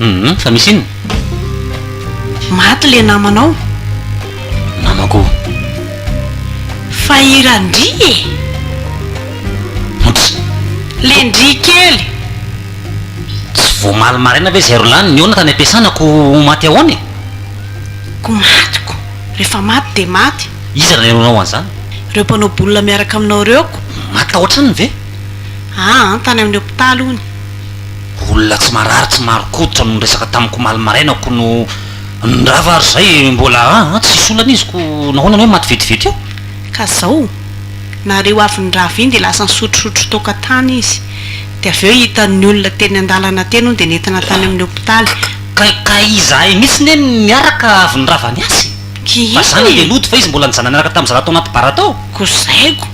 Hum fa misy inona? Maty le namanao. Namako. Fa i Randri e! Oups. Le ndry kely. Tsy vao omaly maraina ve zay ro lany? Nihaona tany am-piasana ko ho maty ahoana e? Ko maty ko. Rehefa maty dia maty. Iza nanenonao an'izany? Ireo mpanao boulina miaraka aminao ireo ko. Maty tao an-tranony ve? Aa tany amin'ny hopitaly hono. Olona tsy marary tsy marin-koditra no niresaka tamiko omaly maraina ko no nirava ary zay mbola a a tsisy olana izy ko nahoana ny hoe maty vetivety eo? Ka zao, nareo avy nirava iny dia lasa nisotrosotro toaka tany izy, dia avy eo hitan'ny olona teny an-dalana teny hono dia nentina tany amin'ny hopitaly. Ka ka izahay mihitsy ne niaraka avy nirava ny azy, fa za nandeha nody fa izy mbola nijanona niaraka tamin'ny zaza tao anaty bara tao. Ko zay ko,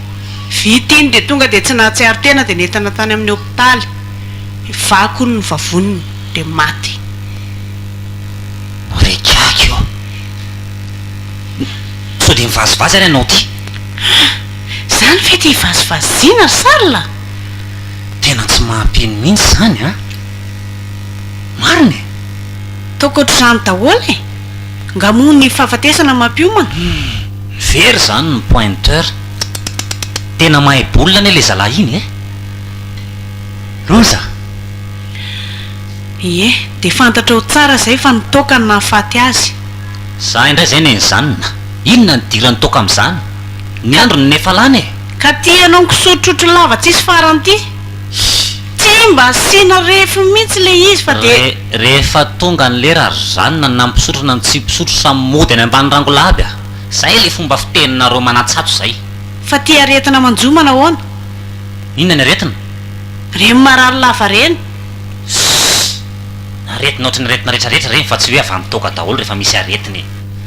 vita iny dia tonga dia tsy nahatsiaro tena dia nentina tany amin'ny hopitaly. ny vakony ny vavoniny dia maty re gaga io sao dia mivazivazy ary ianao ty ah zany ve ty ivazivaziana ry Charles ah tena tsy mahampino mihintsy zany an marina e ataoko ohatr'izany daholo e nga moa ny fahafatesana mampiomana humm very zany ny pointeur tena mahay baolina anie le zalahy iny eh. loza. Ie, dia fantatrao tsara izay fa ny toaka no nahafaty azy. Za indray izay nenjanona. Inona no idiran'ny toaka amin'izany? Ny androny no efa lany e! Ka ity ianao nikosotrotrotro lava tsisy farany ity? Tsy mba asiana refiny mihitsy ilay izy fa dia. Re, rehefa tonga ny lera ry zanona na mpisotro na ny tsy mpisotro samy mody any ambany rangola aby a! Izay ilay fomba fiteninareo manatsatso izay. Fa ity aretina manjomana ahoana? Inona ny aretina? Reny marary lava reny. Ssss! Aretina ohatry ny aretina rehetra rehetra reny fa tsy hoe avy amin'ny toaka daholo rehefa misy aretina e!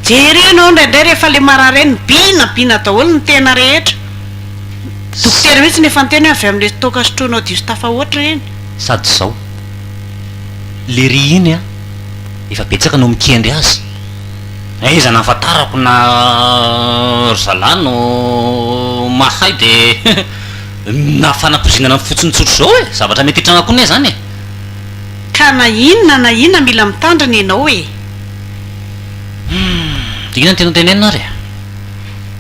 Jereo ianao indraindray rehefa ilay marary reny biina biina daholo ny tena rehetra. Dokotera mihitsy no efa niteny hoe avy amin'ilay toaka sotroinao diso tafahoatra ireny. Sady izao. Lery iny an! Efa betsaka no mikendry azy. Aiza nahafantarako na ry zalahy no mahay de na fanapozinana fotsiny tsotra zao e! Zavatra mety hitranga koa ne zany e! Ka na inona na inona mila mitandrina ianao e! Humm! Inona no tianao tenenina ary e?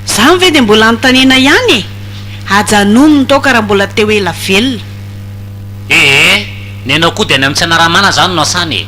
Zany ve de mbola anontaniana ihany e! Ajanony ny taoka raha mbola te ho ela velona. Ee! Ny anao koa de any amin'ny tsy anaramana zany no asany e!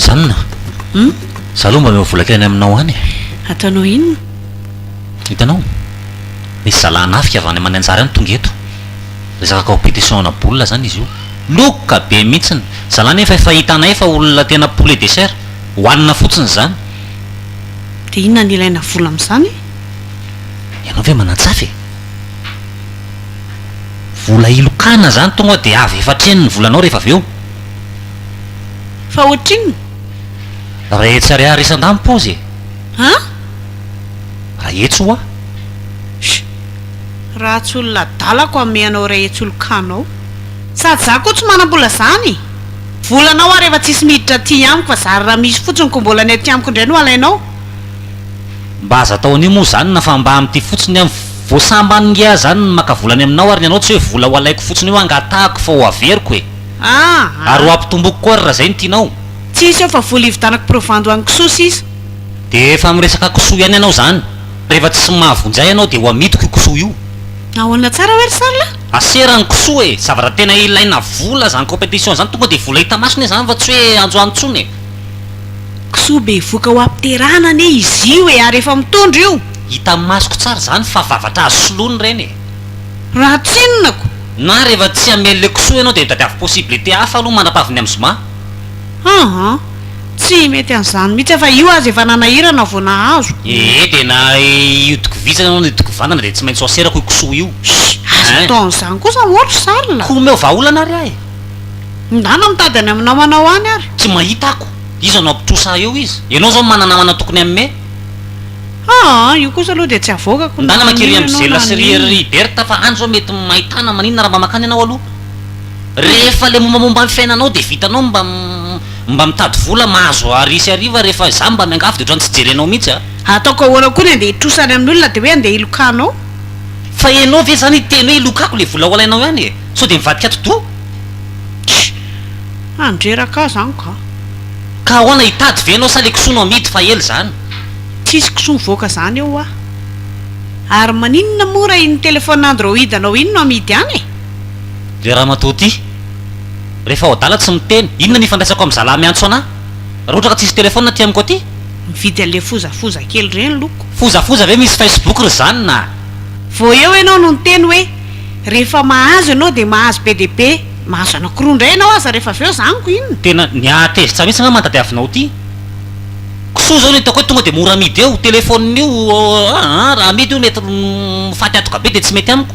zanona hmm? za aloha mba meo volaka any aminao any ataonao inona hitanao misy zalahy nafika avy any aman'ny anjary any tonga eto resaka compétition ana bola zany izy io loka be mihitsiny zalahy nefa efa hitanay fa olona tena poulet dessert hohanina fotsiny zany Dia inona no ilaina vola amin'izany? Ianao ve manan-tsafa e? Vola hilokana izany tonga dia avy efa hatreny ny volanao rehefa avy eo. Fa ohatrinona? Iray hetsy ariary isan-dahy ny paozy e! An? Iray hetsy hoa! Shh! Raha tsy olona adalako hamehy anao iray hetsy holokanao. Sady izaho koa tsy manam-bola izany! Volana aho ary efa tsisy miditra aty amiko fa zary raha misy fotsiny ko mbola ny aty amiko indray no alainao? Mba aza atao an'io moa zany na fa mba amin'ity fotsiny an! Vao sambany ngiahy zany ny maka vola any aminao ary ny anao tsy hoe vola ho alaiko fotsiny io angatahako fa ho averiko e! Ahh Ary ho ampitomboiko koa ary raha zay no tianao! Tsisy eo fa vola hividanako provando any kisoa sisa! Dia efa miresaka kisoa ihany ianao zany! Rehefa tsy mahavoanjy ahy ianao dia ho amidiko io kisoa io! Ahoana tsara hoe ry sarla? Asera ny kisoa e! Zavatra tena ilaina vola zany competition zany tonga de vola hita maso ne zany fa tsy hoe androany tsony e! Kisoa bevoka ho apterana anie izy io e ary efa mitondra io! Hitan'ny masoko tsara izany fa vavatra azo soloina ireny e! Raha tsinonako! Na rehefa tsy hamely le kisoa ianao dia tadiavo possibilité hafa aloha mandrapavin'ny amin'ny zoma. Haa. Tsy mety an'izany mihitsy aho fa io aza efa nanahirana vao nahazo. Ee dia na io tokovizana na io tokovantana dia tsy maintsy soaserako io kisoa io. Shh! Aza atao an'izany kosa moa ry Charles. Koa omeo vahaolana ary ahy. Ndana mitady any amin'ny namanao any ary. Tsy mahita ako. Iza no hampitrosa ahy eo izy? Ianao izao no manana namana tokony hanome. Aa io kosa aloha dia tsy havoakako na Ndana mankirỳ amin'i maninona na Zella sy ry maninona. ry Bertha fa any izao mety mahitana maninona raha mba mankany ianao aloha. Rehefa le mombamomba ny fiainanao de vitanao mba mba mitady vola mahazo hary sy hariva rehefa za mba miangavy de otrany tsy jerenao mihitsy a. Ataoko ahoana koa ny andeha hitrosa any amin'olona de hoe andeha hilokanao? Fa enao ve zany hiteny hoe hilokako le vola ho alainao ihany e? Sao de mivadika atidoha? Tch! Handreraka ahy zany ka. Ka ahoana hitady ve enao sa le kisoa no amidy fa ela zany? Tsisy kisoa mivoaka zany eo hoa. Ary maninona moa raha iny téléphone android anao iny no amidy any e? Le ramatoa ty refa ao adala tsy miteny, inona ny ifandraisako am zalahy miantso anah? Ra ohatra ka tsisy telephone aty amiko aty? Mividy anle fozafoza kely reny loko. Fozafoza ve misy facebook ry zany na. Vao eo ianao no niteny hoe rehefa mahazo ianao dia mahazo be dia be, mahazo anankiroa indray ianao aza rehefa avy eo za amiko inona? Tena ny ahy tezitra mihitsy ngah mahatadiavinao ty. Kisoa zao ny hitako hoe tonga dia mora amidy eo, telephone io aa raha amidy io mety mifaty atoka be dia tsy mety amiko.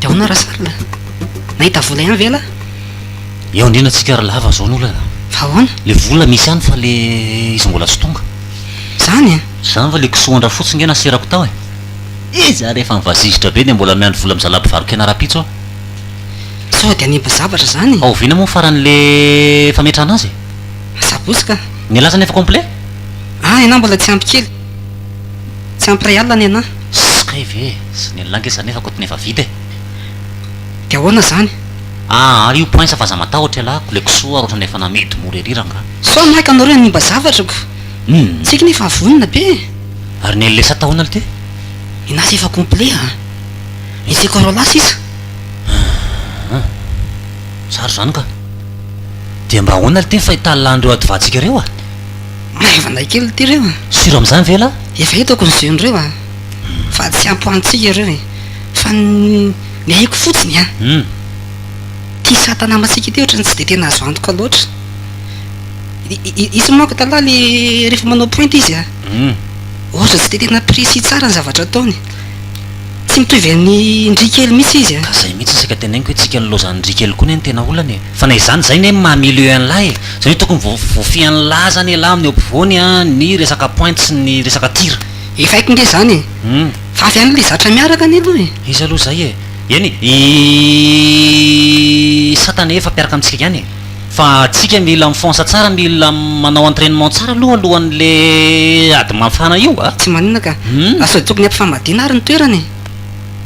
de ahoana raha sarina nahita vola ihany ve lah eo andrina tsika ry lava zao ny olana fa ahoana le vola misy ihany fa le izy mbola tsy tonga zany a zany fa le kisoandra fotsiny nge naserako tao e iza rehefa mivazizitra be de mbola miandry vola mizalaby varokena rapitso aho Sao dia hanimba zavatra izany e! Ao oviana moa faran'le fametrahana azy e? Asabotsy ka! Ny laza nefa complet? Ahy anah mbola tsy ampy kely. Tsy ampy iray alina ny anah. Ss kay ve e! Sy ny an'lah nge zany nefa kotony efa vita e! Dia ahoana izany? Ah ary io poinsa f'aza matahotra ialahy ko le kisoa ary ohatrany efa namidy mora ery rangaha. Sao anah ka nareo hanimba zavatra ko! Hum. Tsiky nefa vonona be e! Ary ny LS tahona lty? Ny nazy efa complet a! Misy corona sisa? Aah. Zary zany ka. Dia mba ahoana lty ny fahitalan'ireo adivantsika ireo a? Maivana kely ity ireo a! Sûr amin'izany ve lah? Efa hitako ny jeu n'ireo a! Fa tsy ampy ho antsika ireo e! Fa ny ny aiko fotsiny a! Hum. Ity sata namantsika ity ohatran'ny tsy dia tena azo antoka loatra. I i izy manko taloha le rehefa manao pointe izy a! Hum. Ohatra tsy dia tena précis tsara ny zavatra ataony. Tsy mitovy an'i ndry kely mihitsy izy a! Ka zay mihitsy isaka tenegniko hoe tsika nilaozan ndry kely koa ne ny tena olana e! Fa na izany zay ne maha milieu anlah e! Zany hoe tokony voafy anlah zany elah amin'ny eo ampovoany a ny resaka pointe sy ny resaka tir. Efa haiko nge zany e! Fa avy any le zatra miaraka anie aloha e! Iza aloha zay e! Eny i satana efa mpiaraka amintsika ihany e! Fa antsika mila mifonsa tsara, mila manao entrainement tsara aloha alohan'le ady mafana io a! Tsy maninona ka! Fa sao dia tokony hampifamadina ary ny toerana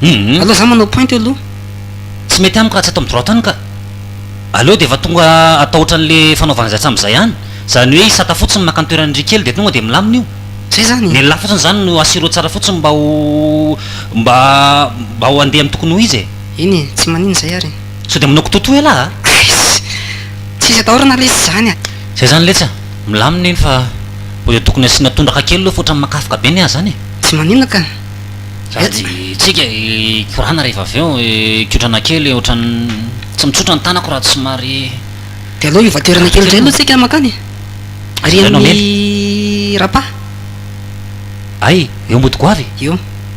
e! Aleo za manao pointe eo aloha. Tsy mety amiko raha tsy ato amin'ny droite any ka! Aleo dia efa tonga atao ohatran'le fanaovana izay hatramin'izay any! Izany hoe izy sata fotsiny maka ny toeran'irry kely dia tonga dia milamina io! Zay zany e! Ny lehilahy fotsiny izany no assurer tsara fotsiny mba ho mba mba ho handeha amin'ny tokony ho izy e! Eny e! Tsy maninona izay ary e! Sao dia manao kitoto elah a! Aiss! Tsisy atahorana lesy izany a! Zay zany letsy a! Milamina iny fa mbo dia tokony asiana tondraka kely aloha fa otrany makafoka be ny ahy zany e! Tsy maninona ka! Sady tsika hikorana rehefa avy eo hikotrana kely otrany tsy mitsotra ny tanako raha tsy somary. Dia aleo hivoaterana kely indray aloha tsika mankany e! Ary amin'ny Rapa? Ay! Eo mody goavy e! Eo!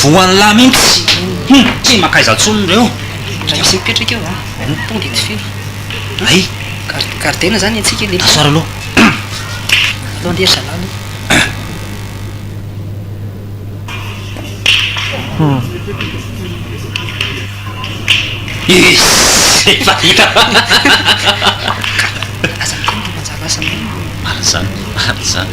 Voan'ny lahy mintsy. Hum, tsy maka aiza tsony reo. Raha misy mipetraka eo a, ny pont dia tsy feno. Ay. Gard, gardena zany ny antsika le. Asoara aloha. Aleo andeha ry zalahy aloha. Is, efa hita fa. Aza mikomy ry manjalazana. Marina zany, marina zany.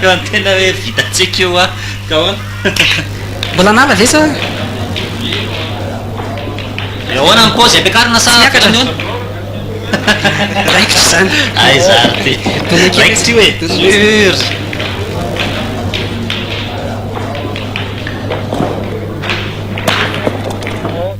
Raha ny tena hoe vitantsika io an, ka ahoana? Mbola an'ala ve sa? Dia ahoana ny paozy ampiakarina sa miakatra ny ony? Raikitra izany. Aiza ary ity? Raikitra io e! Sûr!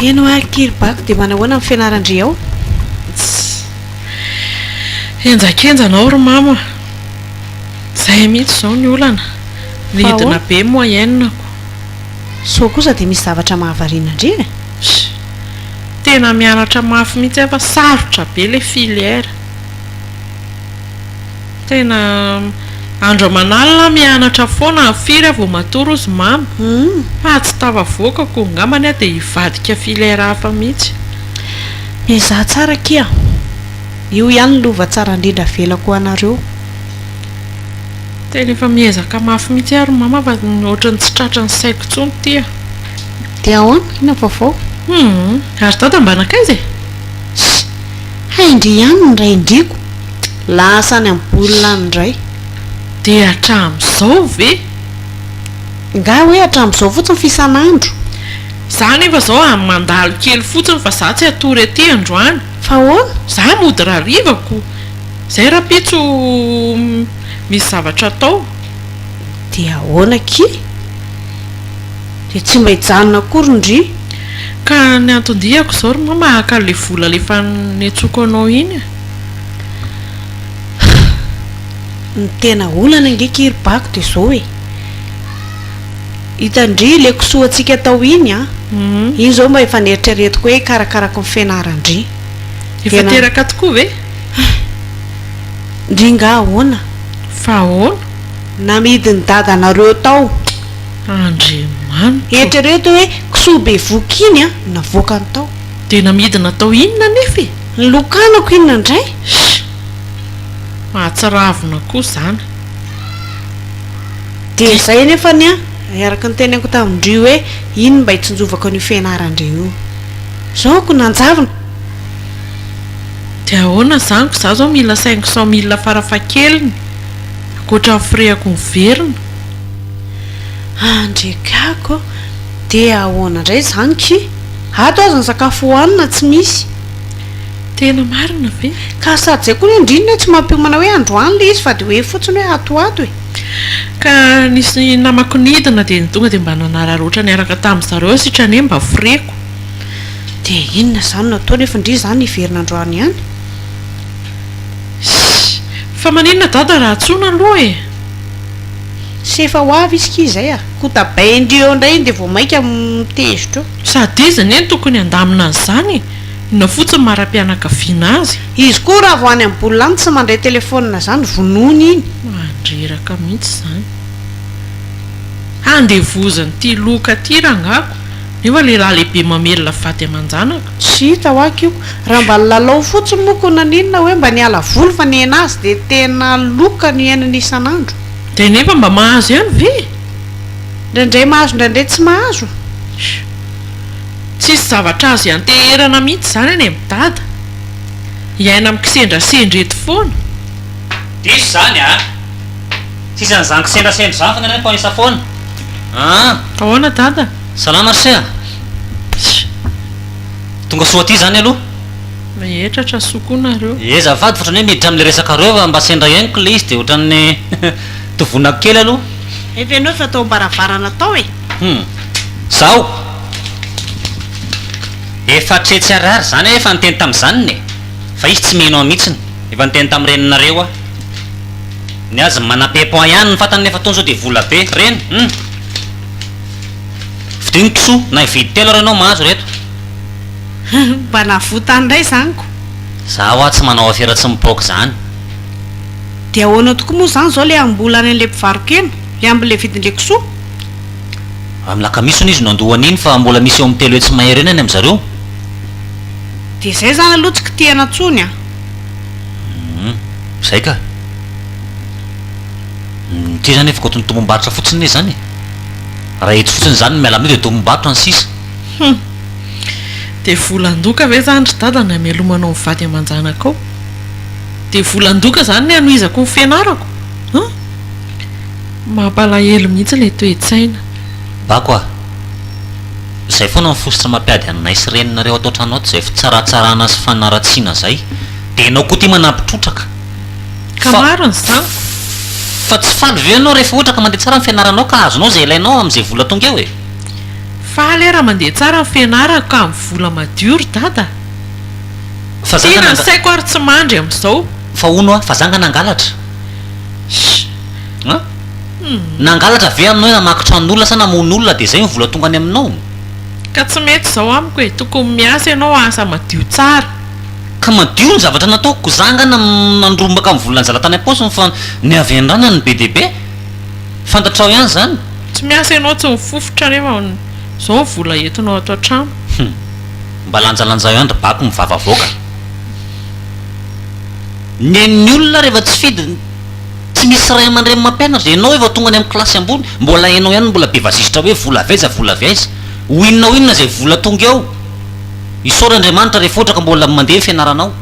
Heno ary kiribako dia manahoana ny fianaran-dry ao? Tss. Henjakenja anao ry mama. Zay mihitsy izao ny olana. Nidina be moyenne ko. Sao kosa dia misy zavatra mahavariana an-dry e? Sh. Tena mianatra mafy mihitsy aho fa sarotra be ilay filière. Tena andro aman'alina aho mianatra foana, firy aho vao matory hozy mama, fa tsy tafavoaka ko, ngambany aho dia hivadika filaire hafa mihitsy. Miezaha tsara akia a! Io ihany lova tsara indrindra avelako ho anareo. Tena efa miezaka mafy mihitsy aho ry mama fa ohatran'ny tsy tratra ny saiko intsony ity a! Dia ahoana? Inona vaovao? Humm! Ary dada mba nankaiza e? Shh! Hay ndry ihany ny ray ndry ko! Lasa any amin'ny baolina any indray. Dia hatramin'izao ve? Nga hoe hatramin'izao fotsiny fa isan'andro. Za anefa zao a mandalo kely fotsiny fa za tsy hatory aty androany. Fa ahoana? Za mody rariva ko. Zay rapitso misy zavatra atao. Dia ahoana akia? Dia tsy mba hijanona akory ndry. Ka ny anton-diako izao ry mama haka le vola le fanentsoako anao iny a. Ny tena olana ange ki ry bako de zao e, ita ndry le kisoa tsika tao iny an, iny zao mba efa neritreretiko hoe hikarakarako ny fianaran ndry, efa teraka tokoa ve? ndry nga ahoana? fa ahoana? namidy ny dadanareo tao, Andriamanitra ô! eritrereto hoe kisoa bevohoka iny an navoakany tao. Tena midina atao inona anefa e? Ny lokanako inona indray? Sh! Mahatsiravina koa izany. Dia izay anefa ny ahy, araka ny teneniko tamin-dry hoe iny mba hitsinjovako an'io fianaran-dry io. Izao ko nanjavona! Dia ahoana izany ko izaho izao mila cinq cent mille farafahakeliny, ankoatra ny firehako miverina? Andriakako ô! Dia ahoana indray izany ki? Ato aza ny sakafo hohanina tsy misy. Tena marina be. Ka sady zay koa ny andriny hoe tsy mampiomana hoe androany le izy fa de hoe fotsiny hoe ato ato e. Ka nisy namako nidina de ny tonga de mba nanararotra niaraka tamin zareo sitrane mba foreko. De inona zany no atao nefa ndry zany hiverina androany ihany? Iss. Fa maninona dada raha antsoina aloha e? Tsy efa ho avy izy kii zay a! Ho tabaindrio eo indray iny dia vao maika mitezitra eo. Sady izy anie no tokony handamina an'izany e! Inona fotsiny maha-rapianakaviana azy? Izy koa raha vao any amin'ny boule any tsy mandray telefonina zany vonoiny iny. Mandreraka mihitsy izany. Handevozan'ity loka ity rangako. Io va lehilahy lehibe mamelona fady aman-janaka? Tsy hita hoa kiko. Raha mba nilalao fotsiny moa ko naninona hoe mba niala voly fa ny ainazy dia tena loka no iainany isan'andro. Dia nefa mba mahazo ihany ve? Indraindray mahazo indraindray tsy mahazo. Tsisy zavatra azo ianteherana mihitsy izany anie ry dada. Hiaina amin'ny kisendrasendra eto foana. Diso izany a! Tsisy an'izany kisendrasendra izany fa ny anay mifamisa foana an! Ahoana dada? Salama ry se a! Tsia. Tonga soa aty izany aloha. Rehetra trasoa koa nareo. Ye azafady fa ohatran'ny hoe miditra amin'ilay resakareo fa mba sendra henoko ilay izy dia ohatran'ny tovonako kely aloha. Efa ianao efa tao am-baravarana tao e! Hum. Zaho? Efa hatretsy harary izany aho efa niteny tamin'izany e! Fa izy tsy mino aho mihitsiny. Efa niteny tamin'ny reninareo aho. Ny azy manam-pepon ihany ny fantany nefa toa sao dia vola be. Reny? Hum. Vodio ny kisoa na hividy telo ary ianao mahazo ireto. Mba navotany indray izany ko. Za hoa tsy manao afera tsy mipoaka izany. Dia ahoana tokoa moa izany izao ilay hambola any an'ilay mpivarokena, ilay amin'ilay vidin'ilay kisoa? Amin'ny lakamisy hono izy no handoa an'iny fa mbola misy eo amin'ny telo hetsy mahery eo ny any amin'i zareo. Dia izay izany aloha tsy kitihana intsony an! Humm, izay ka! Ity izany efa goton tombom-barotra fotsiny ne izany e! Raha eto fotsiny izany no miala amin'io dia tombom-barotra ny sisa. Hum. Dia volan-doka ve izany ry dada ny hamelomanao ny vady aman-janakao? Dia volan-doka izany ny hanohizako ny fianarako? Hum. Mampalahelo mihitsy ilay toe-tsaina. Bako ah. Izay foana ny fositra mampiady anay sy reninareo ato an-trano ato izay fitsaratsarana sy fanaratsiana izay. Dia ianao koa ity manampy trotraka. Ka maro ny zanako. Fa tsy faly ve ianao rehefa ohatra ka mandeha tsara ny fianaranao ka azonao izay ilainao amin'izay vola tonga eo e? Faly aho raha mandeha tsara ny fianarako ka amin'ny vola madio ry dada a! Tiana ny saiko ary tsy mandry amin'izao. Fa hono hoa, fa za nga nangalatra? Shh! Nangalatra ve aminao hoe namaky tranon'olona sa namono olona dia izay no vola tonga any aminao? Ka tsy mety izao amiko e! Tokony miasa ianao asa madio tsara. Ka madio ny zavatra nataoko, ko za nga nandrombaka ny volan zala tany ampaosiny fa ny avy anrana ny be dia be, fantatrao ihany zany. Tsy miasa ianao tsy mifofotra nefa zao ny vola entinao ato an-trano. Hum. Mba lanjalanjao ihany ry bako mivava avoaka. Ny an'ny olona rehefa tsy fidy tsy misy ray aman-dreny mampianatra. Ianao efa tonga any amin'ny kilasy ambony, mbola ianao ihany no mbola be vazisitra hoe vola avy aiza, vola avy aiza. Ho inona ho inona izay vola tonga eo. Isaora Andriamanitra refotra ka mbola mandeha ny fianaranao.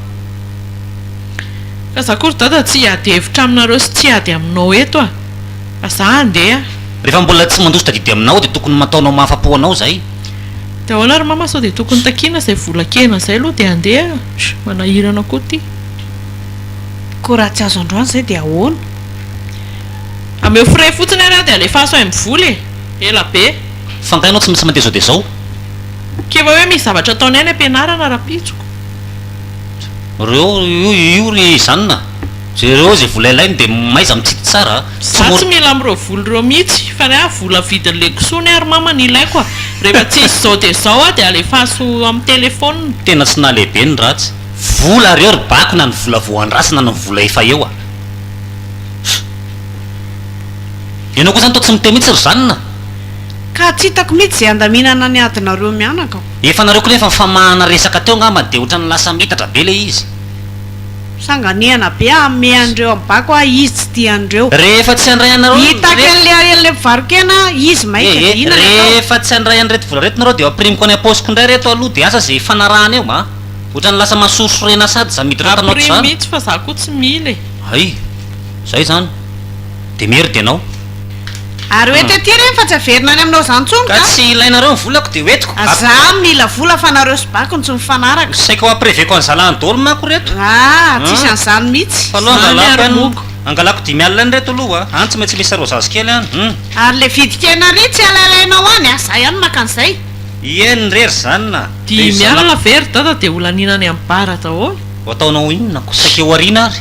Ka za ko ry dada tsy hiady hevitra aminareo sy tsy hiady aminao eto ah. Fa za handeha ah. Rehefa mbola tsy mandositra adidy aminao dia tokony mataonao mahafapo anao zay. De ahoana ry mama sao de tokony takiana zay vola kena zay aloha de handeha ah. Shh manahirana ko ty. Ko raha tsy azo androany zay de ahoana. Ameo frais fotsiny ary ah de alefaso ay mivola e. Ela be. Fa nga enao tsy maintsy mandeha zao dia zao. Keva hoe misy zavatra ataonay any am-pianarana rahampitsoko. Reo io ry zanona, jereo ze vola ilainy de mahaiza mitsiky tsara a! Za tsy mila amreo vola reo mitsy fa ny ahy vola vidiny legoso ny ahy ry mama no ilaiko a! Refa tsy izy zao de zao a de alefaso am telephone. Tena tsy nahalehibe ny ratsy. Vola reo ry bako na ny vola vao andrasana na ny vola efa eo a! Enao koa zany toa tsy miteny mitsy ry zanona. Ka tsy hitako mihitsy izay handaminana ny adinareo mianaka o. Efa nareo koa nefa nifamahana resaka teo ngamba dia otrany lasa mitatra be le izy. Sanganehana be hamehy an'ireo am bako a izy tsy tia an'ireo. Rehefa tsy handray anareo ny vola reto. Hitaky an'le ahelon'le mpivaro-kena a izy maika dia inona ny atao. Rehefa tsy handray an'ireto vola reto nareo dia ho ampirimiko any ampaosiko indray reto aloha dia asa izay hifanarahana eo a. Otrany lasa masorisorena sady za miditra ao an-tanao ato zany. Ampirim mihitsy fa za koa tsy mila e. Hay. Zay zany. Dia merde ianao. Ary ho eto ety ireny fa tsy haverina any aminao izany intsony ka. Ka tsy ilainareo ny volako dia ho entiko. Ary za mila vola fa nareo sy bako no tsy mifanaraka. Ny saiko hampireveko an'i zalahy dôly mako ireto. Ah, tsisy an'izany mihitsy. Fa aloha angalako any, angalako dimy alina any ireto aloha a. Any tsy maintsy misy sarô zazikely any, hum. Ary le vidin-kena ary tsy alailaianao any a, za ihany maka an'izay. Ié nre ry zanona a. Dimy alina ve ry dada dia holaniana any amin'ny bar daholo. Ho ataonao inona ko, saika ho ariana ary.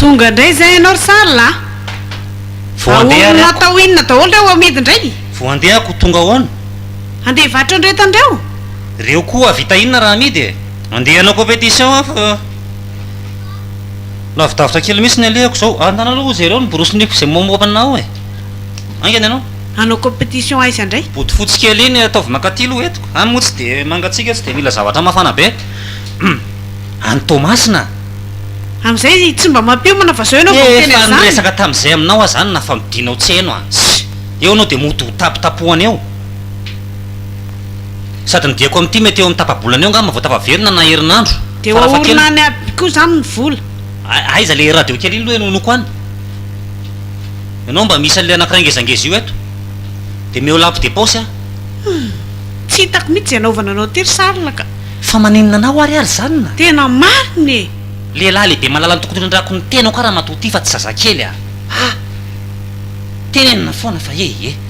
Tonga indray zay ianao ry Charles a! Vao handeha ary Ahorona ako. atao inona daholo ireo amidy indray? Vao handeha ako, tonga ahoana? Handeha hivarotra an'ireo hitan'ireo? Ireo koa hahavita inona raha amidy e? Andeha hanao competition aho fa lavidavitra kely mihintsy ny alehako izao. Andanao aloha ho jereo ny borosiniko izay mamoaka anao e! Haingana ianao. Hanao competition aiza indray? Bodo fotsy kely iny ataovy mankaty aloha eto. Any moa tsy dia mangatsiaka, tsy dia mila zavatra mafana be. Any Toamasina. Amin'izay tsy mba mampiomana fa izao ianao vao miteny an'izany. Efa niresaka tamin'izay aminao aho izany nafa midinao tsy heno aho. Eo ianao dia mody ho tapotapohana eo. Sady ny diako amin'ity mety eo amin'ny tapa-bolana eo angamba vao tafaverina na herinandro. Dia hoaorina any aby koa izany ny vola. Aiza ilay radio kely iny loha eny Onoko any? Ianao mba misy an'ilay anankiray ngezangeza io eto? Dia meo lampe de poche an! Tsy hitako mihitsy izay anaovana anao ity ry Charles ka! Fa maninona anao ary ary izany na? Tena marina e! Lehilahy lehibe malala ny tokony itrandrahako ny tenako aho ramatoa ity fa tsy zazakely aho! Tena foana fa ee!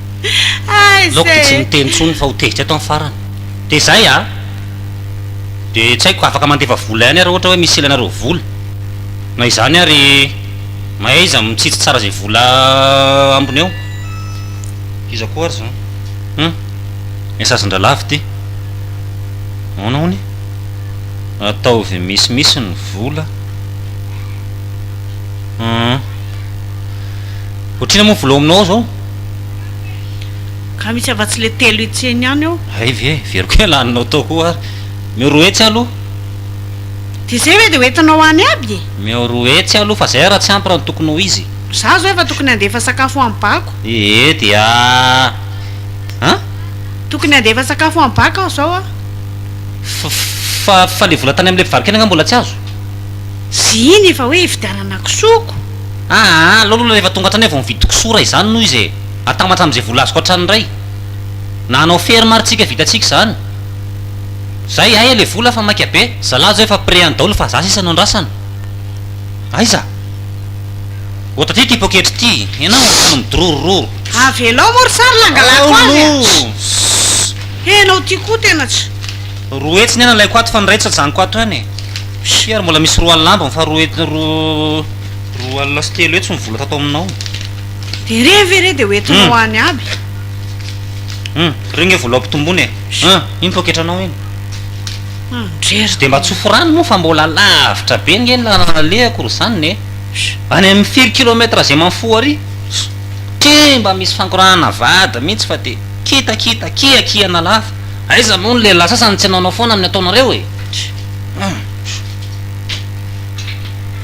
Naoko dia tsy niteny intsony fa ho tezitra eto amin'ny farany. Dia izay a! Dia tsy haiko, afaka mandefa vola ihany aho raha ohatra hoe misy ilainareo vola. Na izany ary, mahaiza mitsitsy tsara izay vola ambiny eo. Iza koa ary izany? Hum! Messagendralavo ity. Ahoana hono? Ataovy misimisy ny vola. Hum! Ohatr'inona moa ny vola ao aminao ao izao? Ka misy afa-tsy le telo hetseny ihany eo. Hay ve, very koa laninao tao koa ary. Omeo roa hetsy aloha. Dia izay ve dia ho entinao any aby e? Omeo roa hetsy aloha fa izay raha tsy ampy raha ny tokony ho izy. Izaho izao efa tokony handefa sakafo ho an'i Bako. Ee dia an? Tokony handefa sakafo ho an'i Bako aho izao an! Fa fa le vola tany amin'ilay mpivarokena angaha mbola tsy azo? Ziny fa hoe hividianana kisoako. Aa aleo aloha rehefa tonga hatrany aho vao mividy kosora izany noho izy e! Atambatra amin'izay vola azoko hatrany indray! Na hanao ferme ary tsika vitantsika izany! Zay! Aia le vola fa maika be! Zalahy zao efa près any daolo fa za sisa no andrasana! Aiza? Ô taty ity poketra ity! Enao ary tany midororororo! Avelao moa ry tsary la hangalako azy a! Ssss! He enao ity koa tena tsy. Roa hetsy ny ahy nalaiko ato fa ny iray tsy ajanoko ato ihany e! Cher, mbola misy roa alina ambiny fa roa roa alina sy telo hetsy ny vola tato aminao. Dia re ve re dia ho entinao any aby? Hum, reo nge vola ampitomboina e! Hum, iny poketranao iny. Hum, ndreraka. Tsy dia mba tsofy rano moa fa mbola lavitra be nge ny lalana alehako ry zanona e! Any amin'ny firy kilomètre zay man fou ary? Tchè, mba misy fangorahana vady mihitsy fa dia kitakita, kiakiana lava. Aiza moa ny lehilahy sasany tsy hanaonao foana amin'ny ataonareo e!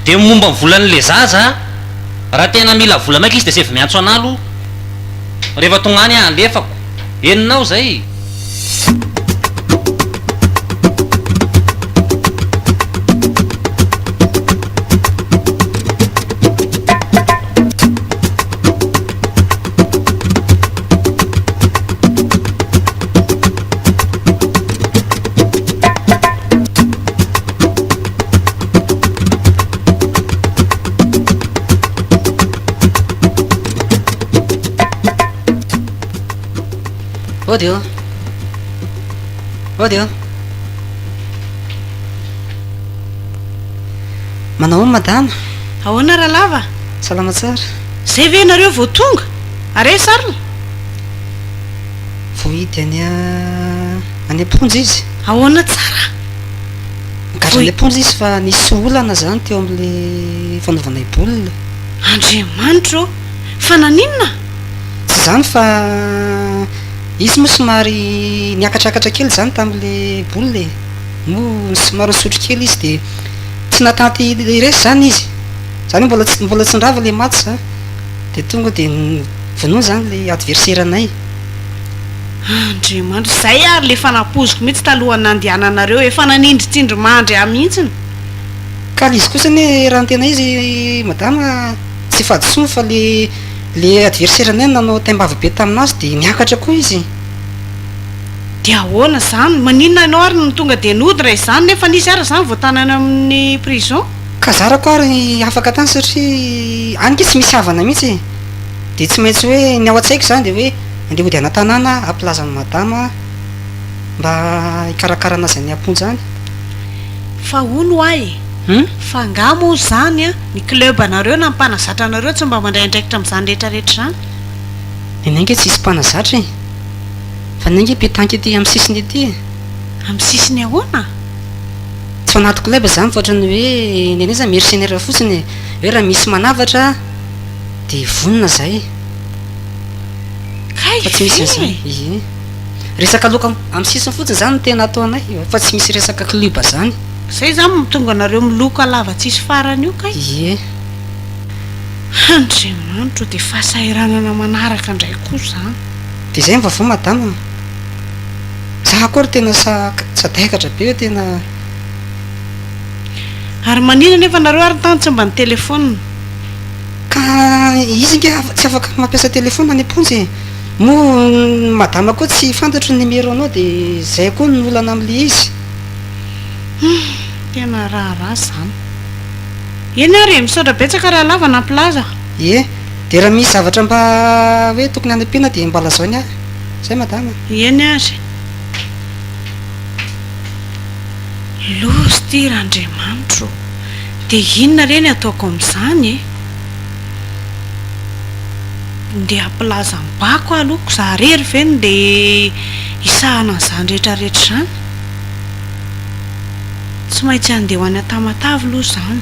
Dia ny momba ny volan'ilay zaza an, raha tena mila vola maika izy dia save miantso anah aloha, rehefa tonga any aho alefako, henonao izay? Audio. Audio. Manao madame. Ahoana Ralava? Salama tsara. Zay ve ianareo vao tonga? Ary aiza Sarla? Voahidy any any am-ponja izy. Ahoana tsara? Nigadra any am-ponja izy fa nisy olana izany teo amin'ilay fanaovana i Boule. Andriamanitra ô! Fa naninona? Tsy izany fa izy moa somary niakatrakatra kely izany tamin'ilay Boule e. Moa somary nisotro kely izy dia tsy nahatanty hiresy izany izy. Izany hoe mbola tsy mbola tsy nirava ilay match izany. Dia tonga dia vonoina izany ilay adversaire anay. Andriamanitra, izay ary ilay fanapoziko mihitsy talohan'ny nandehananareo, efa nanindry tsindrimandry ahy mihitsy. Ka ilay izy kosa anie raha ny tena izy madama tsy fahadisoany fa ilay ilay adversaire anay nanao taimbava be tamin'azy dia niakatra koa izy. Dia ahoana izany? Maninona ianao ary no tonga dia nody raha izany nefa nisy ary izany vao tanaina amin'ny prison? Ka zarako ary afaka tany satria any nge tsy misy havana mihitsy e! Dia tsy maintsy hoe ny ao an-tsaiko izany dia hoe andeha hody ana-tanàna aho hampilaza an'i Madama mba hikarakara anazy any am-ponja any. Fa hono ho'a e! Fa angaha moa izany an, ny club anareo na ny mpanazatra anareo tsy mba mandray andraikitra amin'izany rehetra rehetra izany? Ny anay nge tsy hisy mpanazatra e! Fa ny anay nge petanque ety amin'ny sisiny ety e! Amin'ny sisiny ahoana? Tsy fanaty club izany fa ohatran'ny hoe nenay izany mercenaires fotsiny e! hoe raha misy manavatra dia vonona izahay Kay fa tsy misy an'izany e! ie! Resaka loka amin'ny sisiny fotsiny izany no tena ataonay fa tsy misy resaka club izany. Izay izany no mahatonga anareo miloka lava tsisy farany io kay! ie! Andriamanitra o, dia fahasahiranana manaraka indray koa izany. Dia izay ny vaovao madama. Za koa ry tena sadaikatra be tena a. Ary manina nefa nareo ary tany tsy mba nitelefaonina. Ka izy nga tsy afaka mampiasa telefaona any am-ponja e! Moa ny madama koa tsy fantatro ny numéro nao dia izay koa ny olana amin'ilay izy. Humm, tena raharaha izany. Eny ary e, misaotra betsaka Rahalava nampilaza. Ie, dia raha misy zavatra mba hoe tokony hanampiana dia mba lazao ny ahy. Zay madama a! Eny ary. Loza ty Randriamanitro ô! De inona re ny ataoko amin'izany e? Ndeha hampilaza am-bako aloha ko za rery ve no ndeha hisahana an'izany rehetra rehetra izany? Tsy maintsy andeha ho any Tamatave aloha izany.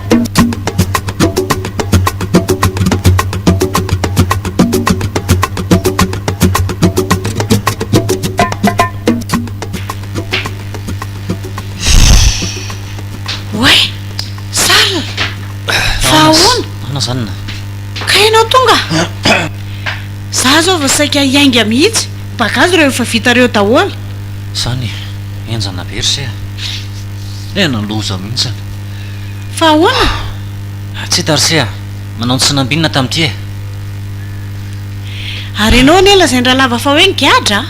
saika hiainga mihitsy bagazy ireo efa vita ireo daholo zany enjana be ry se e eh, naloza mihitsy Fa ahoana? Tsia Tarsea, manao ny tsy nambinina tamin'ity e! Ary ianao anie lazain-dRalava fa hoe nigadra a!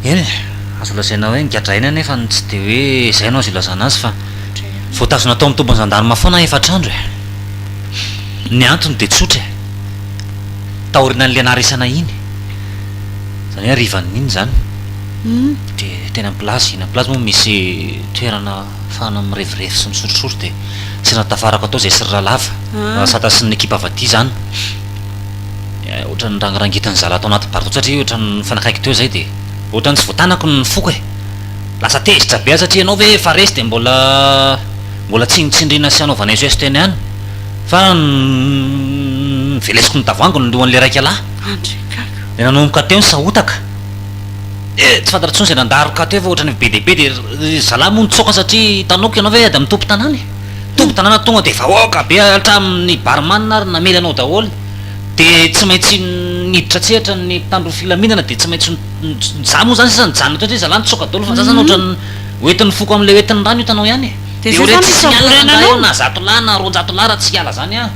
Eny e, azo lazaina hoe nigadra aina nefa ny tsy dia hoe izay no azo ilazana azy fa voatazona tao amin'ny tobin'ny zandarma foana efatr'andro e! Ny antony dia tsotra e! Taorianan'ilay naharesana iny, izany hoe harivan'iny izany. Dia teny ampilazy, eny ampilazy moa misy toerana ahafahana mirevirevy sy misorisory dia tsy raha tafarako atao izay sy ry Ralava, Rasata sy ny ekipa avy aty izany ohatran'ny nirangirangitiny zalahy tao anaty bateau satria ohatran'ny nifanakaiky teo izay dia ohatran'ny tsy voatanako ny foko e! Lasa tezitra be aho satria ianao ve efa resy dia mbola mbola tsinontsindriana sy hanaovana SOS teny ihany fa novelesiko nitavoangy ny lohan'ilay raikalahy dia nanomboka teo ny sahotaka. Eh! Tsy fantatra intsony izay nandaroka teo fa ohatran'ny efa be dia be dia ry zalahy moa nitsoaka satria hitanao koa ianao ve ady amin'ny tompon-tanàna e! Tompon-tanàna tonga dia vahoaka be hatramin'ny barman ary namely anao daholo dia tsy maintsy niditra an-tsehatra ny mpitandro ny filaminana dia tsy maintsy za moa izany sisa nijanona teo satria ry zalahy nitsoaka daholo fa za izany ohatran'ny ho entin'ny foko amin'ilay ho entin'ny rano hitanao ihany e! Dia oreto tsy miala rangahy eo na zato lahy na roanjato lahy raha tsy hiala izany an!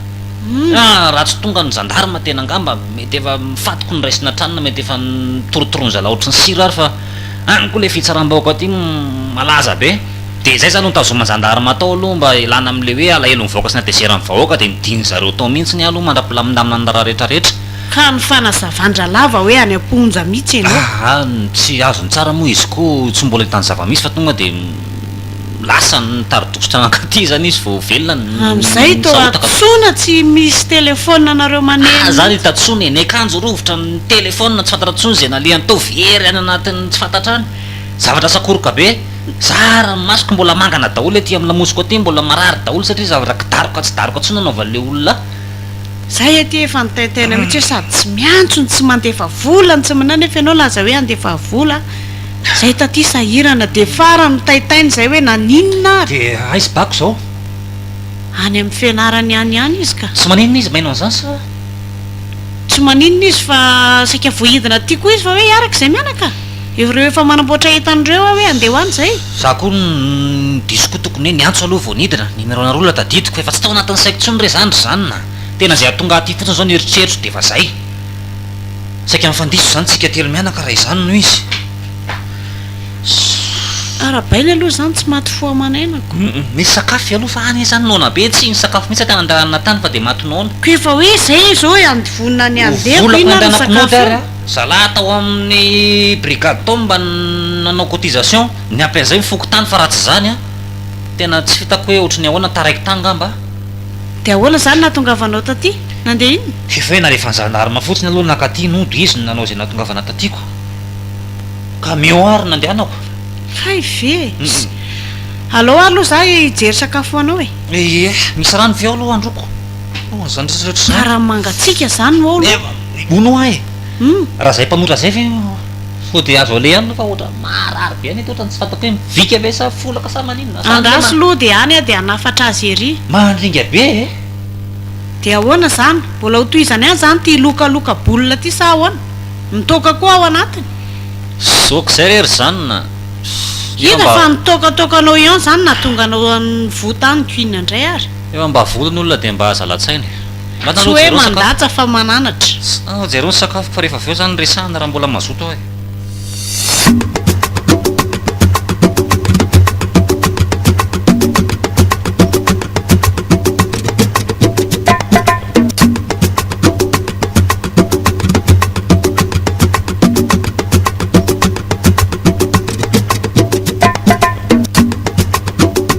Humm ah raha tsy tonga ny gendarme tena angamba mety efa mifatiko ny raisina hatrany na mety efa nitorotoroan'ny zalahy ohatry ny sira ary fa any koa ilay fitsaram-bahoaka aty malaza be dia izay izany no nitazoman'ny gendarme atao aloha mba hilana amin'ilay hoe alahelon'ny vahoaka sy natezeran'ny vahoaka dia nidin'ny zareo tao mihintsy ny aloha mandra-pilamindaminana ny raharaha rehetra rehetra. Ka ny fanazavan-dralava hoe any am-ponja mihintsy ianao. Aah ny tsy azony tsara moa izy koa tsy mbola nitany zava-misy fa tonga dia Lasa ny tari-dokotra nankaty zany izy vao velona ny nisahotaka. Amin'izay toa hantsoina tsy misy téléphone anareo maneno. Ah, zany itatsoana e, ny akanjo rovitra amin'ny téléphone tsy fantatra tsony izay nalehany tao very any anatin'ny tsy fantatra any. Zavatra sakoroka be, zara ny masoko mbola mangana daholo ety amin'ny lamosiko aty mbola marary daholo satria zavatra ka daroka tsy daroka tsony anaovan'ilay olona. Zay aty efa nitaintaina mihitsy hoe sady tsy miantso no tsy mandefa vola no tsy manao nefa ianao laza hoe handefa vola. Zay taty sahirana de farany mitaitaina zay hoe naninona ary. De aiz bako zao. Any amin'ny fianarany any ihany izy ka. Tsy maninona izy maino an'izany sa? Tsy maninona izy fa saika voahidina aty koa izy fa hoe hiaraka izay mianaka? Ireo efa manamboatra entana ireo aho hoe andeha ho any izay. Za koa ny diso koa tokony hoe niantso aloha vao nidina, numéro anareo la tadidiko fa efa tsy tao anatin'ny saiko intsony re zany ry zany na. Tena zay atonga aty fotsiny zao ny eritreritro de efa zay. Saika mifandiso izany tsika telo mianaka raha izany no izy. Arabaina aloha izany tsy maty fo aman'ainako. Nisy sakafo ialoha fa any izany noana be tsy nisakafo mihitsy aty anandaranana tany fa dia maty noana. Koa efa hoe izay izao e andy vonona ny handeha koa inona ary ny sakafo eo. Zalahy tao amin'ny brigade tao mba nanao cotisation niampy an'izay ny fokontany fa raha tsy izany an tena tsy hitako hoe ohatry ny ahoana taraiky tany ngamba. De ahoana zany nahatongavanao taty? Nandeha inona? Efa hoe nalefan'ny zandarma fotsiny aloha nakaty nody izy no nanao izay nahatongavana tatyko. Camion ary nandehanako. Hay ve! Alao ary aloha za hijery sakafo ho anao e! Ie, misy rano ve ao aloha handroako? Ohh, zany rehetra zany! Karaha mangatsiaka zany no ao aloha! Hono hoa e! Hum! Raha zay mpanotra zay ve. Fody azo alehany aloha fa ohatran'ny maharary be an'ity ohatran'ny tsy fantako hoe mivika ve sa folaka sa maninona sa andeha Andraso lody any a de hanafatra azy ery. Mandringa be e! Dia ahoana izany? Mbola ho tohizana ihany izany ity lokaloka boule ity sa ahoana? Mitoaka koa ao anatiny? Zoky izay re ry zanona! Efa Hita mba. fa nitoakatoakanao ian zany nahatonga anao nivoa tany queen ndray ary. Efa mba volon'olona dia mba zala-tsaina e. Tsy hoe mandatsa fa mananatra. Sao jereo ny sakafoko fa rehefa avy eo zany resahana raha mbola mazoto aho e.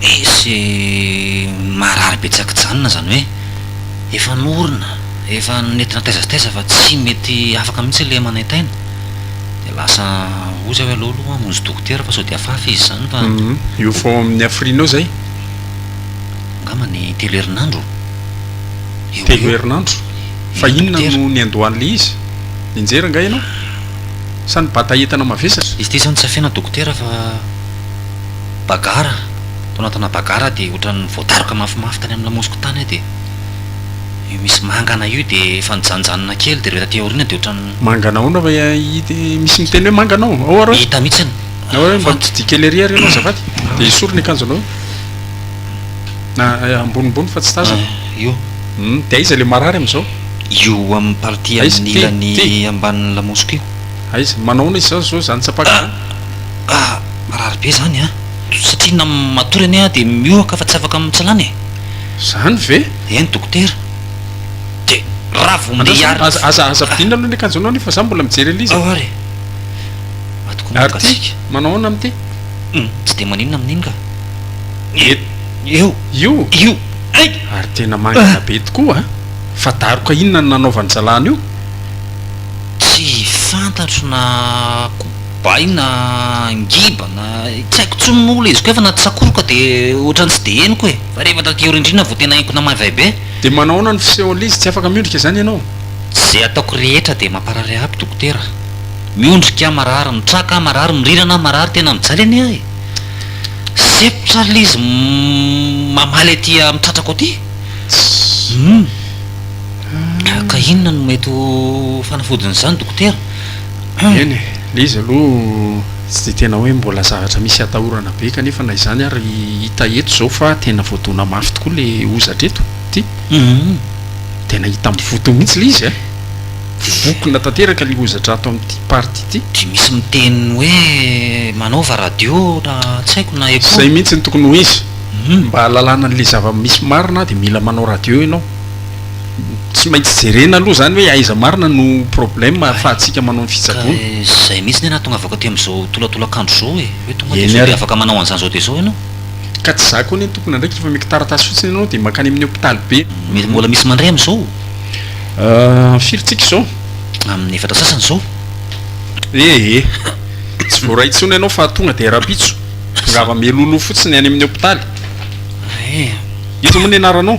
Misy marary betsaka janona izany hoe efa norona, efa nentina taiza sy taiza fa tsy mety afaka mihitsy ilay manaintaina dia lasa hoy zay hoe aleo aloha hamonjy dokotera fa sao dia hafahafa izy izany fa Io efa ao amin'ny hafirianao izay? Angamba ny telo herinandro eo ho Telo eo. herinandro? Fa Eny, inona dokotera. no niandohan'ilay izy? Nianjera angaha ianao? Sa nibata entana mavesatra? Izy ity izao no tsy afena dokotera fa Bagara, tao anatina bagara dia ohatran'ny voadaroka mafimafy tany amin'ny lamosiko tany aho dia io misy mangana io dia efa nijanijanina kely dia ireo taty aoriana dia ohatran'ny. Mangana ahoana va ity misy miteny hoe mangana ao? Ao ary hoe. Hita mihitsy ny. Ao ary hoe mba mitsidiha kely ery ary ianao azafady dia esory ny akanjonao na ambonimbony fa tsy tazako. Io. Hum, dia aiza ilay marary amin'izao? Io amin'ny partie amin'ny ilany ambanin'ny lamosiko io. Aiza, manao ahoana izy izany izao izany tsapako izany? Ka marary be zany an! Satria na matory anie aho dia mihohoka fa tsy afaka mitsalana e! Zany ve? Eny dokotera! De raha vao mndeha hiarina Andraso, aza, aza ampidirina aloha ny akanjonao anie fa za mbola mijery an'ilay izy e! Ao ary! Maty koa Ary ty? mangatsiaka! Manao ahoana amin'ity? Humm! Tsy dia maninona amin'iny ka! Io! Io! Io? Io! Hay! Ary tena mangina be tokoa an! Fa daroka inona no nanaovan'i zalahy an'io? Tsy fantatro na koa. bay na ngiba na tsy haiko tsony moa ilay izy koa fa na tsakoroka dia ohatrany tsy dia henoko e! Fa rehefa taty aoriana indrindra vao tena henoko namaivay be. Dia manao ahoana ny fisehon'ilay izy? Tsy afaka miondrika izany ianao? Izay ataoko rehetra dia mamparary ahy dokotera. Miondrika aho marary, mitraka aho marary, mirirana aho marary, tena mijaly anie aho e! Sempotra ary ilay izy mamaly aty amin'ny tratrako aty. Humm! Ka inona no mety ho fanafodin'izany dokotera? Eny e, le izy aloha tsy dia tena hoe mbola zavatra misy atahorana be kanefa na izany ary hita eto izao fa tena voadona mafy tokoa le hozatra eto ty, tena hita mivotona mihitsy le izy eh, mivokona tanteraka ny hozatra ato amin'ity partie ity. Dia misy miteny hoe manaova radio na tsy haiko na echo. Zay mihitsy no tokony ho izy, mba ahalalana an'le zava-misy marina dia mila manao radio ianao. tsy maintsy jerena aloha izany hoe aiza marina no problème ahafahantsika manao ny fitsaboana. Ka izay mihitsy ny ahy nahatongavako aty amin'izao tolatolan-kandro izao e! Hoe tonga dia izao dia afaka manao an'izany izao dia izao ianao? Ka tsy izaho koa anie no tompon'andraikitra efa omeko taratasy fotsiny ianao dia mankany amin'ny hopitaly be. Mety mbola misy mandray amin'izao? Ahh, firy tsika izao? Amin'ny efatra sasany izao. Ee, tsy voaray intsony ianao fa tonga dia rahampitso tongava mialoha loha fotsiny any amin'ny hopitaly. Ee. Iza moa ny anaranao?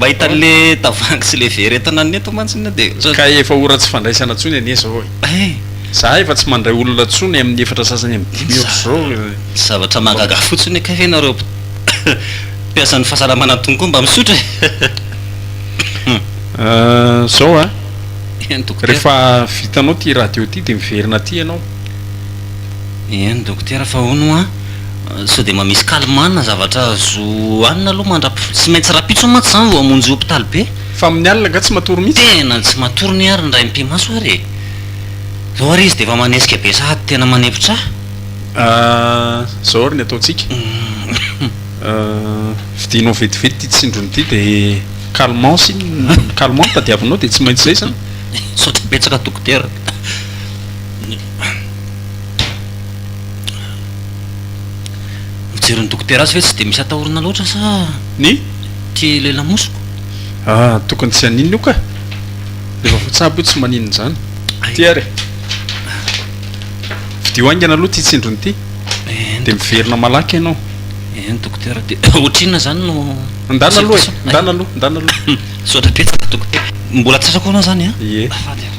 Mahita anle tavangy sy le vera entana ny eto mantsy ny dia otrany. Kay efa ora tsy fandraisana tsony anie zao e! Ay! Za efa tsy mandray olona tsony aminy efatra sasany aminy dimy otrzao e! Zavatra mahagaga fotsiny hoe kay ve nareo mpiasan'ny fahasalamana antony koa mba misotra e! Ahh zao a! Eny dokotera. Refa vitanao ty radio ty de miverina aty ianao. Eny Dokotera fa hono hoa sao dia mba misy calmant na zavatra azo hanina aloha mandrap tsy maintsy rapitso mantsy izany vao hamonjy hopitaly be. Fa amin'ny alina angaha tsy matory mihitsy? Tena tsy matory ny ary ny ray mpimaso ary e! Zao ary izy dia efa manesika be sahady tena manepotra ahy. Ahh zao ary ny ataontsika, ahh vidianao vetivety ity tsindrony ity dia calmant sy calmant no tadiavinao dia tsy maintsy izay izany. Misaotra betsaka Dokotera. Mijery ny dokotera azy ve tsy dia misy atahorana loatra sa ny tia ilay lamosiko? Ah, tokony tsy haninona io kah! Efa voatsabo io tsy maninona izany. Ity ary e! Vidio haingana aloha ity tsindrony ity dia miverina malaky ianao. Eny dokotera, dia ohatrinona izany no Ndana aloha e! Ndana aloha, ndana aloha. Misaotra betsaka dokotera. Mbola tsy asakoana izany an? Ie. Azafady ary.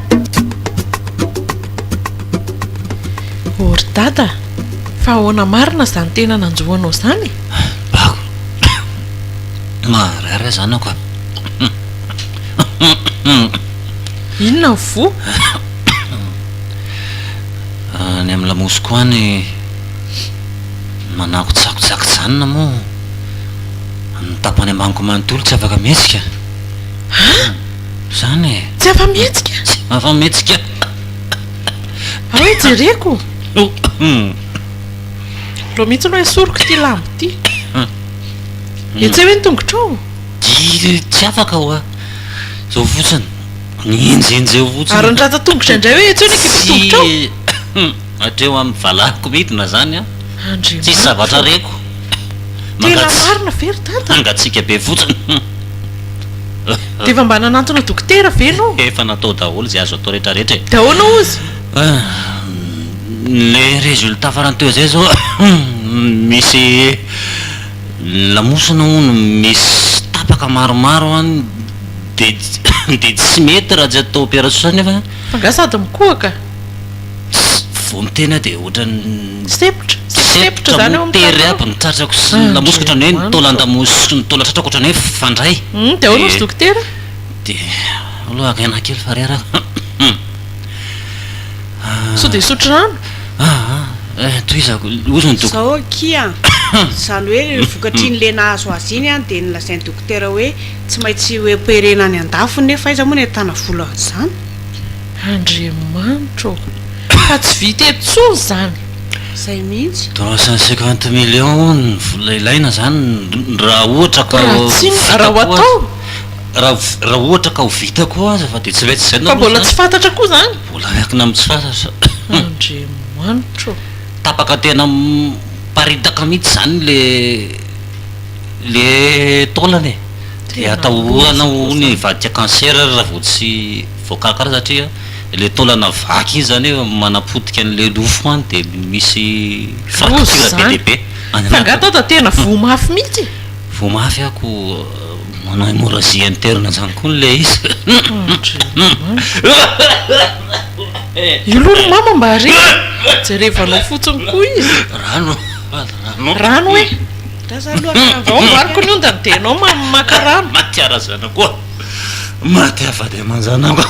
O ry Dada, fa ahoana marina izany tena nanjo anao izany e? Bako, maharary aza anao ka. Inona ny voa? Any amin'ny lamosiko any manakotsakotsak'janona moa ny tapany ambaniko manontolo tsy afaka mihetsika. Ha? Zany e! Tsy afa-mihetsika! Tsy afa-mihetsika! Ary hoe jereko! Aleo mihitsy aloha esoriko ity lamba ity! Etseo ve ny tongotrao? Tsy afaka hoa! Izao fotsiny! Enjehinjeho fotsiny! Ary ny ratsan-tongotra indray hoe etseo ny ekipan-tongotrao! Hatreo amin'ny valahiko midina zany an! Tsisy zavatra reko! Tena marina ve ry Dada? Mangatsiaka be fotsiny! Dia efa mba nanantona dokotera ve no? Efa natao daholo izay azo atao rehetra rehetra e! Dia ahoana hozy? Le resultat farany teo zay zao misy lamosina hono misy tapaka maromaro an! Dia tsy mety raha tsy atao operation nefa. Fa nga sady mikohaka? Vao miteny aho dia ohatran'ny Sepotra, sepotra zany ao amin'ny tranonao. Sepotra motery aby ny tratrako sy ny lamosiko ohatran'ny hoe nitaola an-damosy sy nitaola tratrako ohatran'ny hoe fandray. Hum, dia ahoana hozy dokotera? Dia aleo aloha haka aina kely fa rera aho. Sao dia hisotro rano? Aa, eh, tohizako, hozy ny dok. Zao akia an! Izany hoe ireny vokatr'iny le nahazo azy iny an, dia nolazain'ny dokotera hoe tsy maintsy ho operena any an-dafy nefa aiza moa ny ahitana vola an'izany? Andriamanitra ô! Fa tsy vita eto tsony izany! Izay mihitsy! Trois cent cinquante millions ny vola ilaina izany raha ohatra ka ho vita koa aza, raha ohatra ka ho vita koa aza fa dia tsy mety izay no loza an! Fa mbola tsy fantatra koa izany! Mbola miankina amin'ny tsy fantatra! Andriamanitra ô! Tapaka tena miparitaka mihitsy izany ilay ilay taolana e! Dia atahoana hono hivadika cancer raha vao tsy. Voakarakara satria ilay taolana vaky iny izany hoe manapotika an'ilay lofo any dia misy fracture be dia be any anaty. Fa angaha Tonta tena voa mafy mihitsy e? Voa mafy aho ko manao hémorragie interne izany koa ilay izy. Io aloha ry mama mba re jerevanao fotsiny koa izy. Rano rano. Rano e. Za zany aloha vao amboariko ny ondany dia ianao maka rano. Matiara zana koa. Maty avady aman-janako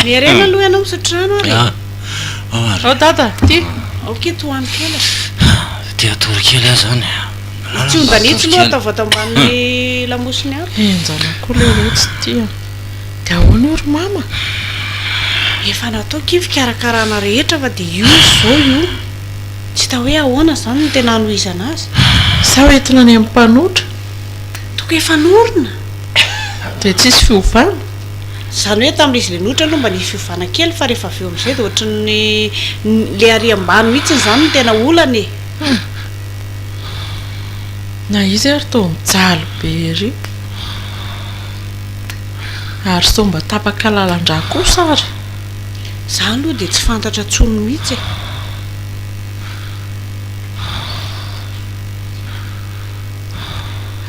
Miherena aloha ianao misotro rano ary e. Ao dada, ty. Aoka eto hohaniko kely e. Te hatory kely aho zany e. Tsy hondanitsy loha ataovy ato ambanin'ny lamosiny ato. Henjana koa lehilahy tsy tia. Dia ahoana io ry mama? Efa nataoko io fikarakarana rehetra fa dia io izy izao io. Tsy hita hoe ahoana izany no tena hanohizana azy. Sao entina any amin'ny mpanotra? Toko efa norina. Dia tsisy fiovana? Izany hoe tamin'ilay izy ilay nohitra aloha mba nisy fiovana kely fa rehefa avy eo amin'izay dia ohatran'ny ilay ary ambany mihitsy izany no tena olana e! Na izy ary toa mijaly be ery. Ary sao mba tapaka lalan-drà kosa ary? Izaho aloha dia tsy fantatra intsony mihitsy e!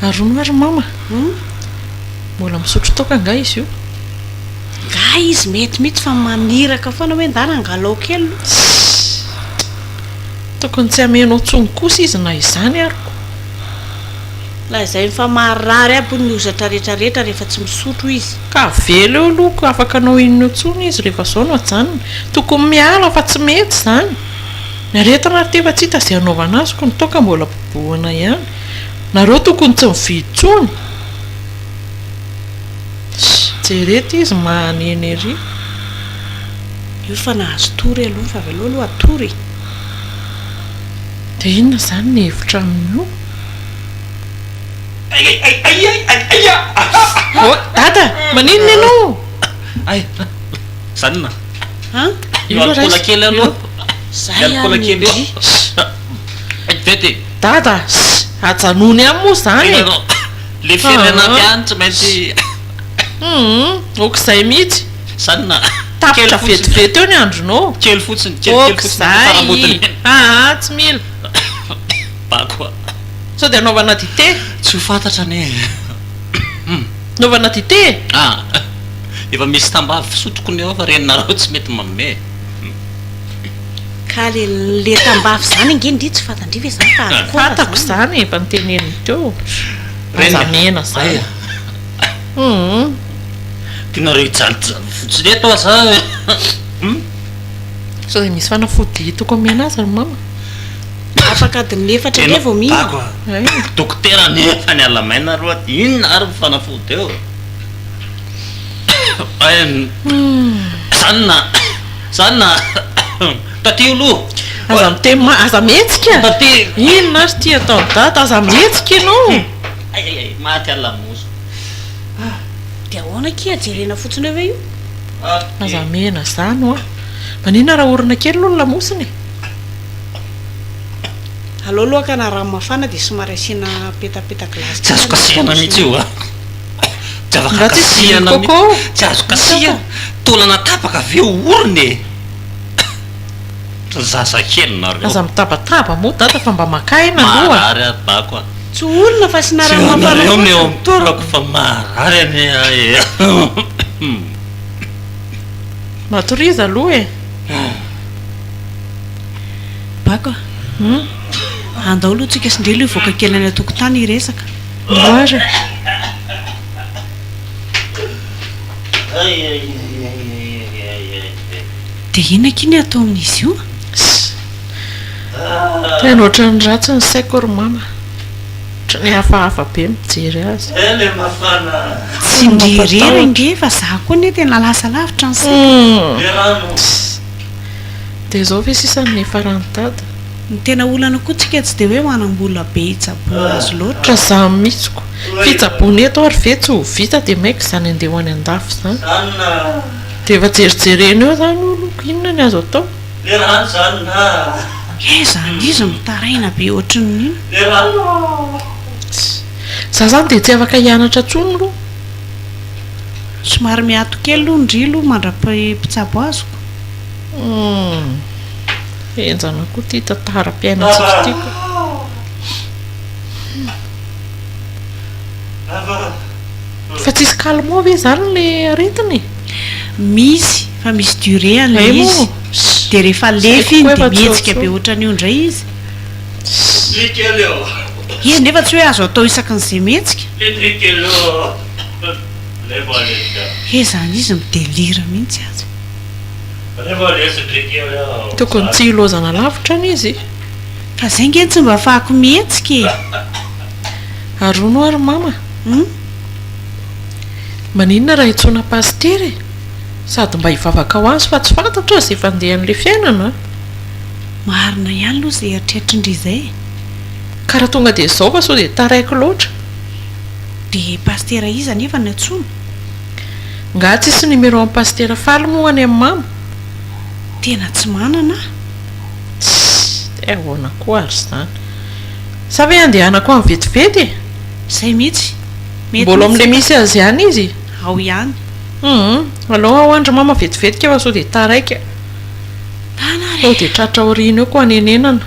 Arono ary mama Mbola misotro toaka nga izy io? Nga izy mety mitsy fa mamiraka foana hoe ndana angalao kely aloha. Tokony tsy hamenao tsony kosa izy na izany ary ko. Lazainy fa marary aby hono ny hozatra rehetra rehetra rehefa tsy misotro izy. Ka avela eo aloha ko afaka anao inona tsony izy rehefa zao no ajanony. Tokony miala fa tsy mety zany. Ny aretina ary ty efa tsy hita ze hanaovana azy ko ny toaka mbola. Ahoana ihany? Nareo tokony tsy mividy intsony? Jereta izy mahanena ery. Io fa nahazo tory aloha fa avy aleo aloha atory e. Dia inona izany ny hevitra amin'io? Oh, Dada! Maninona ianao? Zany na. An? Io alikaola kely aloha. Zay ary ny ndry. Vete. Dada, ssy, ajanony any moa zany e! Le firenena aty any tsy maintsy. Humm, ok'izay mihitsy. Zany na. Tapitra vetivety eo ny andronao. Kely fotsiny, kely kely fotsiny ny faramodiny. Ok'izay, aa tsy mila. Bako a. Sao dia anaovana dite? Tsy ho fantatra anie e. Anaovana dite e? Ah, efa misy tambavy fisotro koa ny ao fa renareo tsy mety manome e. Ka le le tambavy zany ange ndry tsy fantandry ve zany fa akora zany. Fantako zany efa noteneniny teo. Aza mihena zany. Humm. Tianareo hijaliljaly fotsiny eto ah za eh humm. Sao dia misy fanafody hitako omena azy ry mama. Afaka adin'ny efatra indray vao mihinana. Tena dokotera nefa ny alamaina aloha inona ary ny fanafody eo eh. Humm. Zany na. Zany na taty aloha. Aza miteny ma aza mihetsika. Taty. Inona ary ity ataon'i Dada aza mihetsika ianao. Ayayay maty ary lamozy. Ah de ahoana akia jerena fotsiny eo ve io. Aza mihena zany hoa. Maninona raha orina kely aloha ny lamosiny e. Alao aloha akana rano mafana de somary asiana petapeta glace kely aloha ny lamosiny. Tsy azo kasihana mihitsy io a. Tsy afaka Nga tsy izy kasihana mihitsy. Coco? Tsy azo kasihana. Taolana tapaka ve ho orina e? Ry zaza kely nareo. Aza mitabataba moa dada fa mba maka aina aloha. Maharary aho bako a. Tsy olona fa sy nareo Tsy anareo no eo amin'ny taolako fa maharary anie ahy e. Matoriza aloha e. Bako a. Andao aloha tsika sy ndrely hivoaka kely any an-tokotany hiresaka. Dia inona akia ny atao amin'izy io? Tena ohatran'ny ratsy ny saiko ry mama. Ohatran'ny hafahafa be mijery azy. Tsindrio irery ange fa za koa anie tena lasa lavitra ny saiko. Dia izao ve sisa no niafaran'i dada? Ny tena olana koa tsika tsy dia hoe manambola be hitsaboana azy loatra. Ka za mitsy ko. Fitsaboana eto ary ve tsy ho vita dia maika izany andeha ho any andafy izany. Dia efa jerijerena eo izany hono ko inona ny azo atao. He izany izy mitaraina be ohatrin'inona. Za izany dia tsy afaka hianatra intsony aloha. Somary miato kely aloha ndry aloha mandra-pitsabo azoko. Humm. Enjana koa ity tantaram-piainantsika ity ka. Fa tsisy calmant ve izany ilay aretina e? Misy, fa misy durée an'ilay Hay moa. izy. Dia rehefa Tsy lefy haiko iny koa dia efa mihetsika tsotso. be ohatran'io indray izy. Izy nefa tsy hoe azo atao isaky ny izay mihetsika. He izany izy mi-delire mihitsy aza. Tokony tsy hilozana lavitra anie izy e! Fa zay nge tsy mba fahako mihetsika e! Ary hono ho'a ry mama hum! Maninona raha itsoina pasitera e! Sady mba hivavaka ho azy fa tsy fantatrao izay fandehan'ilay fiainana an! Marina ihany aloha izay eritreritrindry izay e! Ka raha tonga dia izao fa sao dia taraiky loatra! Dia pasitera iza anefa no antsoina? Nga tsisy numéro an'i Pasitera Faly moa any amin'ny mamo? Tena tsy manana aho. Tssy! Dia ahoana koa ary izany? Sa ve handehanako any vetivety e? Izay mihitsy. Mety Mbola ao mihitsy amin'ilay misy azy ihany izy? Ao ihany. Humm! Aleo ao any ry mama vetivety kay fa sao dia taraiky. Ndana ary e! Sao dia tratra aoriana eo koa hanenenana.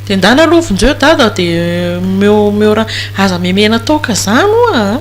Dia ndana aloha vonjeo dada dia omeo omeo ra. Aza memena toaka izany oa a!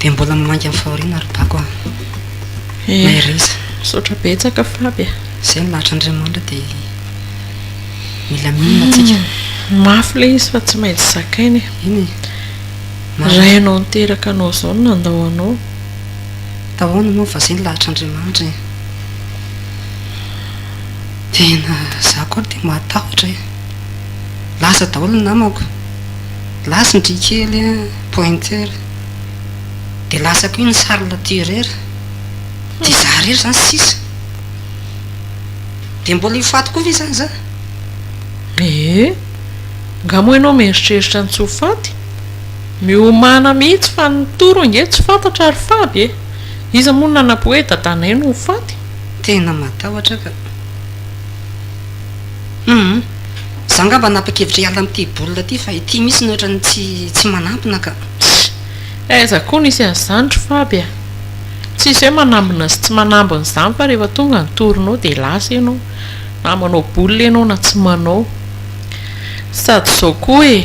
Dia mbola milainga amin'ny fahoriana ry Bako ah. Mahereza. Misaotra betsaka Faby ah. Izay ny lahatra Andriamanitra dia mila mino antsika. Hmm, mafy ilay izy fa tsy maintsy zakaina e. Eny e. Rainao niteraka anao izao no nandao anao. Tahoana moa fa izay ny lahatra Andriamanitra e. Tena za koa dia mahatahotra e. Lasa daholo ny namako. Lasa ny dry kely pointeur. Dia lasa koa ny charles tireur. Dia izaho irery izany sisa. Dia mbola io faty koa ve izany izaho? Ee. Nga moa ianao mieritreritra ny tsy ho faty? Miomana mihitsy fa ny toro ange tsy fantatra ry faby e! Iza moa no nanapo hoe dadanay no ho faty? Tena matahotra aho ka. Humm. Za ngamba nanapa-kevitra hiala amin'ity boule ity fa ity mihitsy no ohatran'ny tsy manampina ka. Ssy. Aiza koa nisy an'izany ry Faby a! Tsisy hoe manambina sy tsy manambina izany fa rehefa tonga ny tournoi dia lasa ianao. Na manao boule ianao na tsy manao. Sady izao koa e,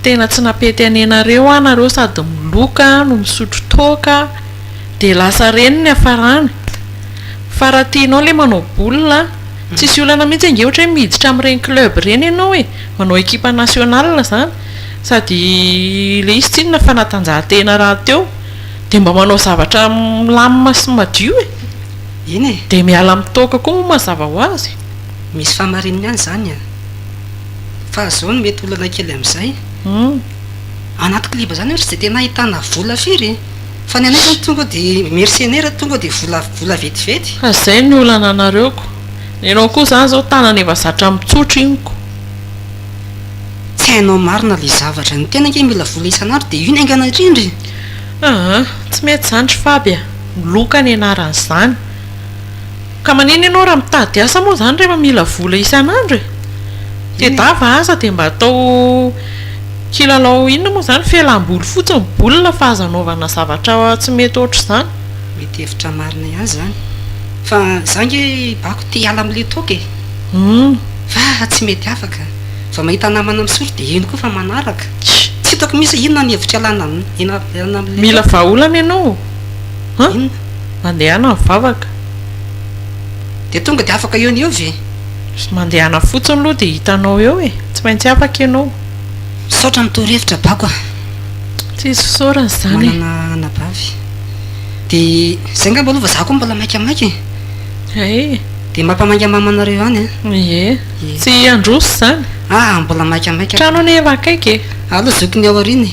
tena tsy nampety an'ianareo aho nareo sady miloka no misotro toaka dia lasa reny ny hiafarany. Fa raha tianao ilay manao boule tsisy olana mihitsy ange ohatra hoe miditra amin'ireny club ireny ianao e, manao ekipa nationale izany sady ilay izy tsinona fanatanjahantena rahateo dia mba manao zavatra milamina sy madio e! Eny e! Dia miala amin'ny toaka koa moa mazava ho azy e! Misy fahamarininy ihany izany an! Fa izao no mety olana kely amin'izay, anaty kliba izany ohatra dia tena ahitana vola firy e! Fa ny anay zany tonga de mercenaire tonga de vola vola vetivety. Fa zay ny olana anareo ko. Ny anao koa zany zao tanana efa zatra mitsotro iny ko. Tsy hainao marina le zavatra. Ny tena ange mila vola isan'andro de iny haingana indrindra e. Aa tsy mety zany ry faby a! Loka ny anarany zany. Ka manina ianao raha mitady asa moa izany rehefa mila vola isan'andro e! Te dava aza dia mba atao kilalao inona moa izany? Fialam-boly fotsiny boule fa aza anaovana zavatra tsy mety ohatr'izany. Mety hevitra marina ihany izany. Fa za ange hibako te hiala amin'ilay toaka e! Fa tsy mety afaka. Vao mahita namana misotro dia iny koa efa manaraka. Tsy hitako mihitsy hoe inona ny hevitra hialana amin'ilay. Mila vahaolana ianao o! Mandehana ny vavaka. Dia tonga dia afaka eo no eo ve? Sy mandehana fotsiny aloha dia hitanao eo e! Tsy maintsy afaka ianao. Misaotra ny torohevitra bako a! Tsisy fisaorana izany e! Manana anabavy. Dia izay angamba aloha fa izaho koa mbola maika maika e! Ee! Dia mampamaingamama anareo ihany a! Ie! Tsy handroso izany. Aa! Mbola maika maika. Trano anie efa akaiky e! Aleo zokiny aoriana e!